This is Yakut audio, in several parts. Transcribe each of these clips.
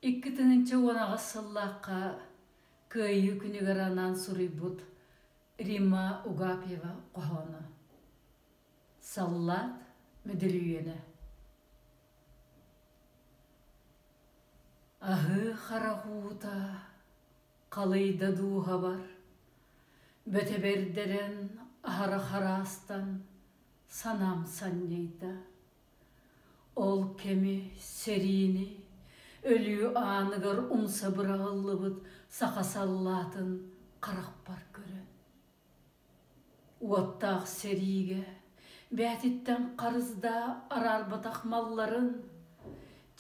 Икки тыһыынча уон аҕыс сыллаахха Кыайыы күнүгэр анаан суруйбут Римма Угапьева хоһооно Саллаат Мүдүрүйүөнэ Аһыы харахуута халыйда дууһабар Бөтөбөрдөрөн аһара хараастан санаам санньыйда Ол кэми, сэриини, өлүү ааныгар умса быраҕыллыбыт саха саллаатын харахпар көрөн, уоттаах сэриигэ бээтиттэн харыздаа араарбатах малларын,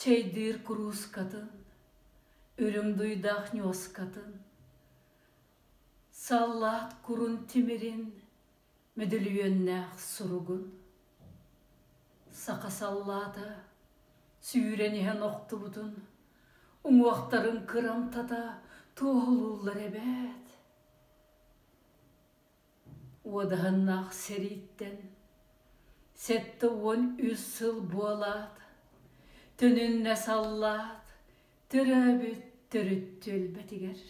чэйдиир куруускатын, үрүҥ дуйдаах ньуоскатын, саллаат курун тимирин Мүдүлүйүөннээх суругун саха саллаата сүүрэн иһэн охтубутун уҥуохтарын кырамтата туоһулууллар эбээт уодаһыннаах сэрииттэн сэттэ уон үс сыл буолаат төнүннэ саллаат төрөөбүт төрүт түөлбэтигэр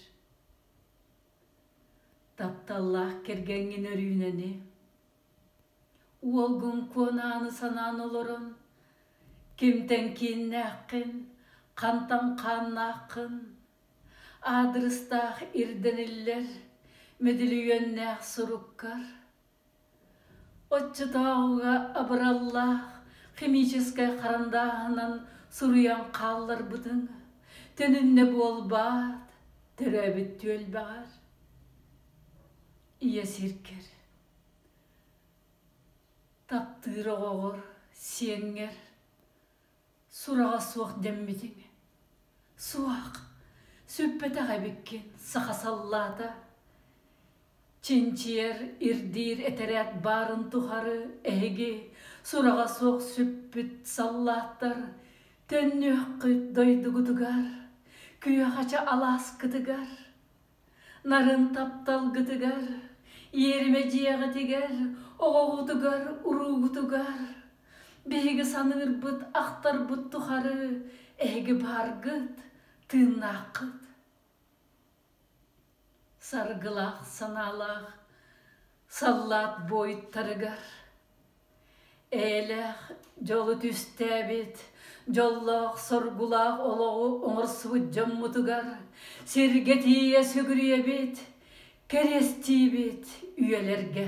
Тапталлаах кэргэҥҥин өрүүнэни Уолгун куонааны санаан олорон Кимтэн кииннээххин, хантан хааннааххын Аадырыстаах ирдэниллэр Мэдилийүөннээх суруккар Оччотооҕуга абыраллаах химическэй харандааһынан суруйан хаалларбытыҥ төнүннэ буолбаат, төрөөбүт түөлбэҕэр? Ийэ сиргэр, таптыыр оҕоҕор, сиэҥҥэр Сураҕа суох дэммитиҥ. Суох, сүппэтэх эбиккин, саха саллаата. Чинчийэр, ирдиир этэрээт баарын тухары эһиги сураҕа суох сүппүт саллааттар төннүөххүт дойдугутугар, күөхача алааскытыгар. Нарын тапталгытыгар, иэримэ дьиэҕитигэр, оҕоҕутугар, уруулгутугар биһиги саныырбыт, ахтарбыт тухары эһиги бааргыт, тыыннааххыт. Саргылаах санаалаах саллаат буойуттарыгар Эйэлээх дьолу түстээбит, дьоллоох-соргулаах олоҕу оҥорсубут дьоммутугар сиргэ тиийэ сүгүрүйэбит, кэриэстиибит үйэлэргэ.